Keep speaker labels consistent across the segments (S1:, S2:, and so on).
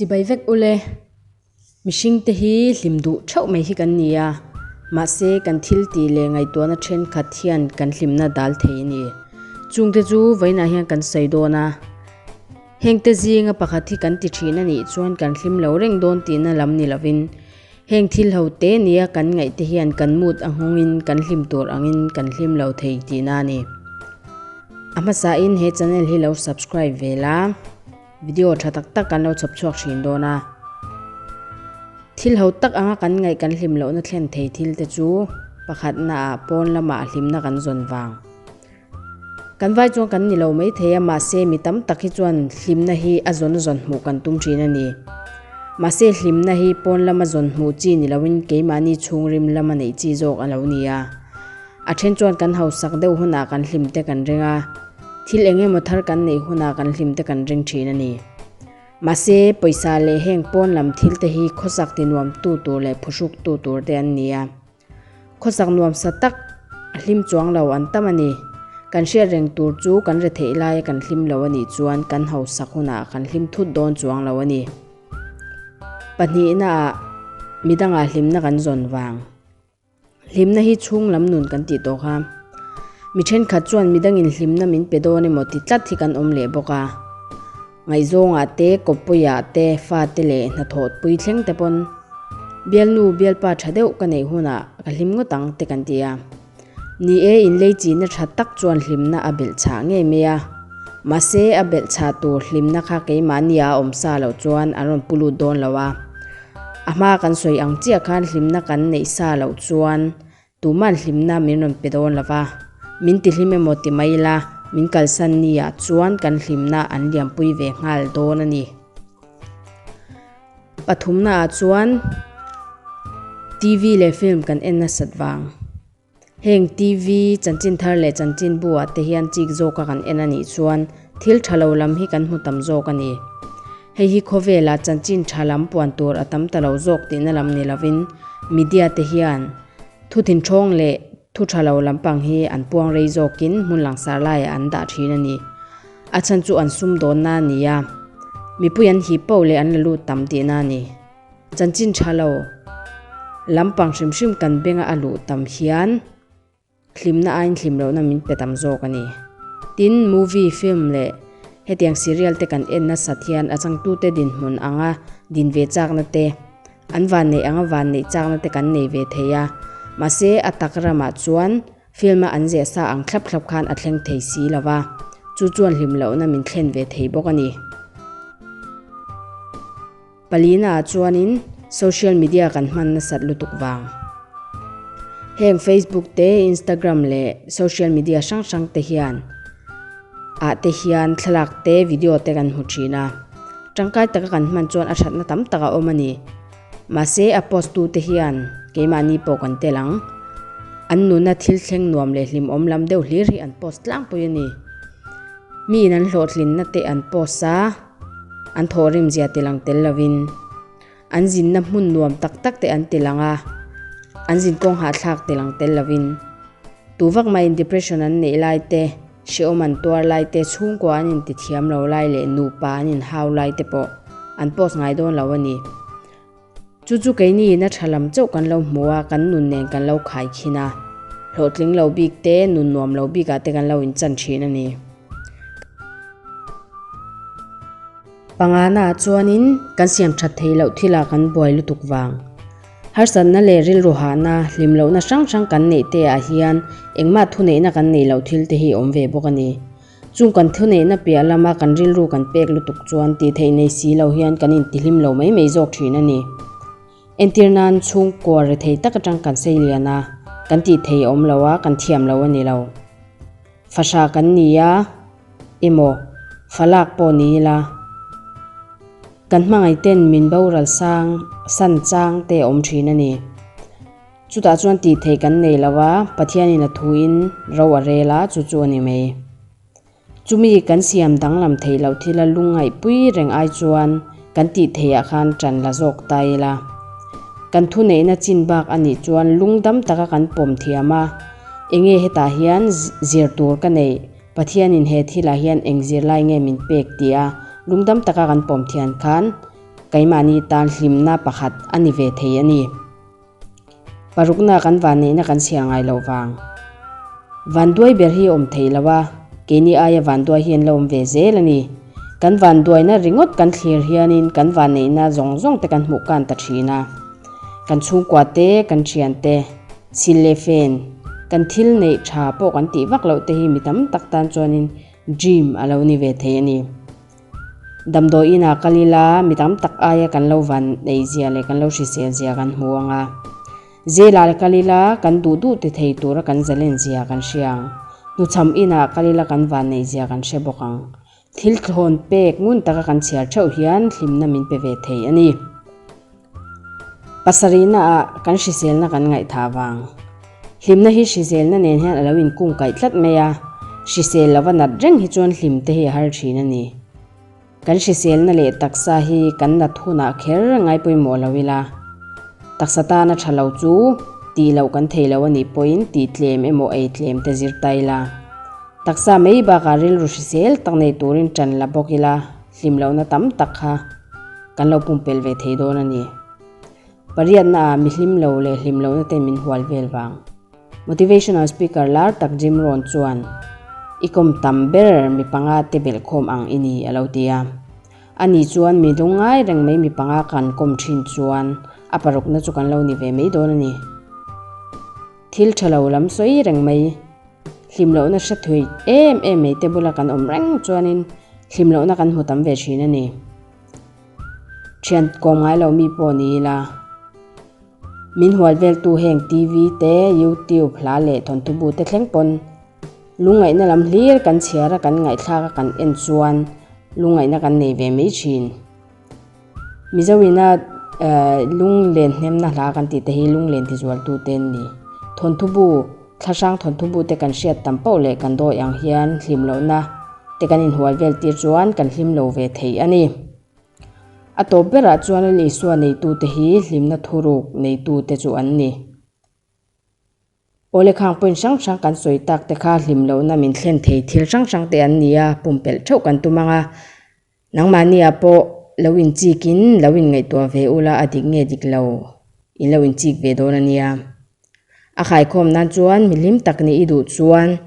S1: Chibai vek ule, mihringte hi hlim duh theuh mai hi kan ni a, mahse kan thil tih leh ngaihtuahna thenkhat hian kan hlimna dal thei a ni. Chungte chu vawiinah hian kan sawi dawn a, hengte zinga pakhat hi kan ti thin a nih chuan kan hlim lo reng dawn tihna lam ni lovin, Heng thil ho te nia kan ngaih te hian kan mood a nghawng in kan hlim tur ang in kan hlim lo thei ti na ni. A hmasa in he channel hi lo subscribe ve la. Video tha tak tak kan lo chhawp chhuak thin dawn a. Thil ho tak anga kan ngaih kan hlim lo na thlen thei thil te chu pakhat na a pawn lama hlim na kan zawn vang. Kan vai chuan kan ni lo mai thei a, mahse mi tam tak hi chuan hlimna hi a zawn zawn hmuh kan tum thin a ni. Mahse hlimna hi pawn lama zawn hmuh chi ni loin keimahni chhungrim lama neih chi zawk a lo ni a. A then chuan kan hausak deuh hunah kan hlim te kan ring a, thil eng emaw thar kan neih hunah kan hlim te kan ring thin a ni. Mahse pawisa leh heng pawn lam thil te hi khawsak tinuam tu tur leh phuhruk tu tur te an ni a. Khawsak nuamsa tak a hlim chuang lo an tam a ni. Kan hriat reng tur chu kan retheih laia kan hlim lo a nih chuan kan hausak hunah kan hlim thut dawn chuang lo a ni. Pahnihnaah midangah hlimna kan zawn vang. Hlimna hi chhung lam nun kan tih tawh kha. Mi thenkhat chuan midangin hlimna min pe dawn emaw ti tlat hi kan awm leh bawk a. Ngaizawnga te, Kawpuia te, fate leh hnathawt pui thleng te pawn Bialnu, Bialpa tha deuh ka neih hunah ka hlim ngawt ang te kan ti a ni e, inlei chihna tha tak chuan hlimna a belh chhah ngei mai a, mahse a belh chhah tur hlimna kha keimahnia a awm sa lo chuan an rawn pu lut dawn lo a, a hma kan sawi ang chiah khan hlimna kan neih sa lo chuan Tuman hlimna min rawn pe dawn lova, min tihlim emaw ti mai ila, min kalsan niah chuan kan hlimna an lianpui ve nghal dawn a ni. Pathumnaah chuan TV leh film kan en nasat vang. Heng TV, chanchin thar leh chanchin bu-ah te hian chik zawka kan en a nih chuan thil tha lo lam hi kan hmu tam zawk a ni. Hei hi khawvela chanchin tha lam puan tur a tam ta lo zawk tihna lam ni lovin, media te hian thutinhrawng leh thutha lo lampang hi an puang rei zawkin hmun langsar laiah an dah thin a ni. A chhan chu an sumdawnna a ni a, mipui an hip paoh leh an la lut tam tihna a ni. Chanchin tha lo lampang hrim hrim kan benga a luh tam hian, Hlimna aiin hlim lohna min pe tam zawk a ni. Tin, movie, film leh hetiang serial te kan en nasat hian a changtute dinhmun anga din ve chakna te, an van neih anga van neih chakna te kan nei ve thei a. Mahse, a tak ramah chuan film a an ziah sa ang thlap thlap khan a thleng thei si lo va, chu chuan hlim lohna min thlen ve thei bawk a ni. Palina chuanin social media kan hman nasat lutuk vang. Heng Facebook te, Instagram leh social media hrang hrang te hian ah te hian thlalak te, video te kan hmu thin a. Tangkai taka kan hman chuan a thatna tam tak a awm a ni. Mahse a post tu te hian keimahni pawh kan tel ang. An nuna thil thleng nuam leh hlimawm lam deuh hlir hi an post tlangpui a ni. Miin an hlawhtlin na te an post a. an thawh rim zia ti lang tel lovin an zinna hmun nuam tak tak te an ti lang a, an zin kawng hahthlak ti lang tel lovin tu vak maiin depression an neih lai te, hreawm an tuar lai te, chhungkua an intithiam lo lai leh nupa an inhau lai te pawh an post ngai dawn lo a ni. Chu chu keini ina tha lam chauh kan lo hmu a, kan nun nen kan lo khai khin a, hlawhtling lo bik te, nun nuam lo bik ah te kan lo in chan thin a ni. Panga na ah chuan in kan siam that thei loh thil ah kan buai lutuk vang. Harsat na leh rilru hah na, hlim lohna hrang hrang kan neih te ah hian engmah thuneih na kan neih loh thil te hi awm ve bawk a ni. Chung kan thuneihna piah lama kan rilru kan pek lutuk chuan tih theih nei si lo hian kan in tihlim lo mai mai zawk thin a ni. Entir nan chhungkua ri thei tak atang kan sei lian a, kan tih thei awm lo a, kan thiam lo a ni lo. Fahra kan ni a emaw, falak pawh ni ila, kan hmangaihten min boral sang san chang te awm thin a ni. Chutah chuan tih theih kan nei lo a, Pathianin a thuin ro a rel a, chu chu a ni mai. Chumi kan siam danglam theih loh thila lung ngaihpui reng ai chuan kan tih theiah khan ṭan la zawk ta ila, kan thuneihna chin bak a nih chuan lungdam taka kan pawm thiam a, Enge hetah hian zir tur ka neih? Pathianin he thilah hian eng zir lai nge min pek? tia lungdam taka kan pawm thian khan keimahni tan hlimna pakhat a ni ve thei a ni. Parukna kan van neihna kan siah ngai loh vang. Van duai ber hi awm thei lo a, keini aia van duai hian la awm ve zel a ni. Kan van duaina ringawt kan thlir hianin kan van neihna zawng zawng te kan hmuh kan ta thin a. Kan chhungkua te, kan thian te, sil leh fan, kan thil neih tha pawh kan tih vak loh te hi mi tam tak tan chuanin dream a lo ni ve thei a ni. Damdawi inah kal ila mi tam tak aia kan lo van neih zia leh kan lo hrisel zia kan hmu ang a. Zela leh kal ila kan duh duh ti thei tura kan zalen zia kan hria ang. Hnuchham inah kal ila kan van neih zia kan hre bawk ang. Thil thlawn pek ngun taka kan chhiar theuh hian hlimna min pe ve thei a ni. Pasarihna ah kan hriselna kan ngaih tha vang. Hlimna hi hriselna nen hian a lo in kungkaih tlat mai a, hrisel lo va nat reng hi chuan hlim te hi a har thin a ni. Kan hriselna leh taksa hi kan nat hun ah kher a ngai pawimawh lo ila, taksa tan a tha lo chu tih loh kan thei lo a nih pawh in tih tlem emaw ei tlem te zir ta ila, taksa mai bak ah rilru hrisel tak nei tur in tan la bawk ila, hlim lohna tam tak kha kan lo pumpel ve thei dawn a ni. Pariatna ah mihlim lo leh hlim lohna ten min hual vel vang. Motivational speaker lar tak Jim Rohn chuan, I kawm tam ber mi panga te belh khawm ang i ni, a lo ti a. A ni chuan mi dawng ngai reng mai mi panga kan kawm thin chuan a parukna chu kan lo ni ve mai dawn a ni. Thil tha lo lam sawi reng mai. Hlim lohna hre thei em em mai te bula kan awm reng chuanin hlim lohna kan hmu tam ve thin a ni. Thian kawm ngai lo mi pawh ni ila, min hual vel tu heng TV te, YouTube, hla leh thawnthubu te thleng pawn lungngaihna lam hlir kan chhiar a, kan ngaihthlak a kan en chuan lungngaihna kan nei ve mai thin. Mizo ina lung len hnemna hla kan tih te hi lung len tizual tu te an ni. Thawnthubu, thlahrang thawnthubu te kan hriat tam poh leh kan dawi ang hian hlim loh na te kan in hual vel tir chuan kan hlim lo ve thei a ni. A tawp ber ah chuan Isua nei tu te hi hlimna thuruk nei tu te chu an ni. Aw lekhang point hrang hrang kan sawi tak te kha hlim lohna min thlen thei thil hrang hrang te an ni a, pumpelh theuh kan tum ang a. Nangmahniah pawh lo in chik in lo in ngaihtuah ve ula a dik nge dik lo in lo in chik ve dawn a nia. A khai khawm nan chuan milim tak ni i duh chuan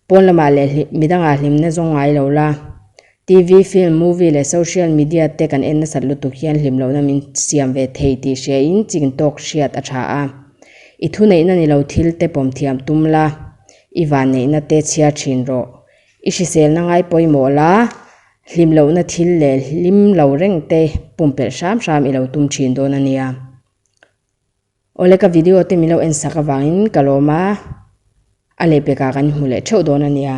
S1: Pawn lama leh midanga hlimna zawng ngai lo la, TV, film, movie leh social media te kan en nasat lutuk hian hlim lohna min siam ve thei tih hriain ching tawk hriat a tha a. I thuneihna ni lo thil te pawm thiam tum la, i vanneihna te chhiar thin rawh. I hriselna ngai pawimawh la, hlim lohna thil leh hlim lo reng te pumpelh hram hram i lo tum thin dawn a nia. Awle ka video te milo en sak avangin ka lawm a, a leh pekah kan hmu leh theuh dawn ania.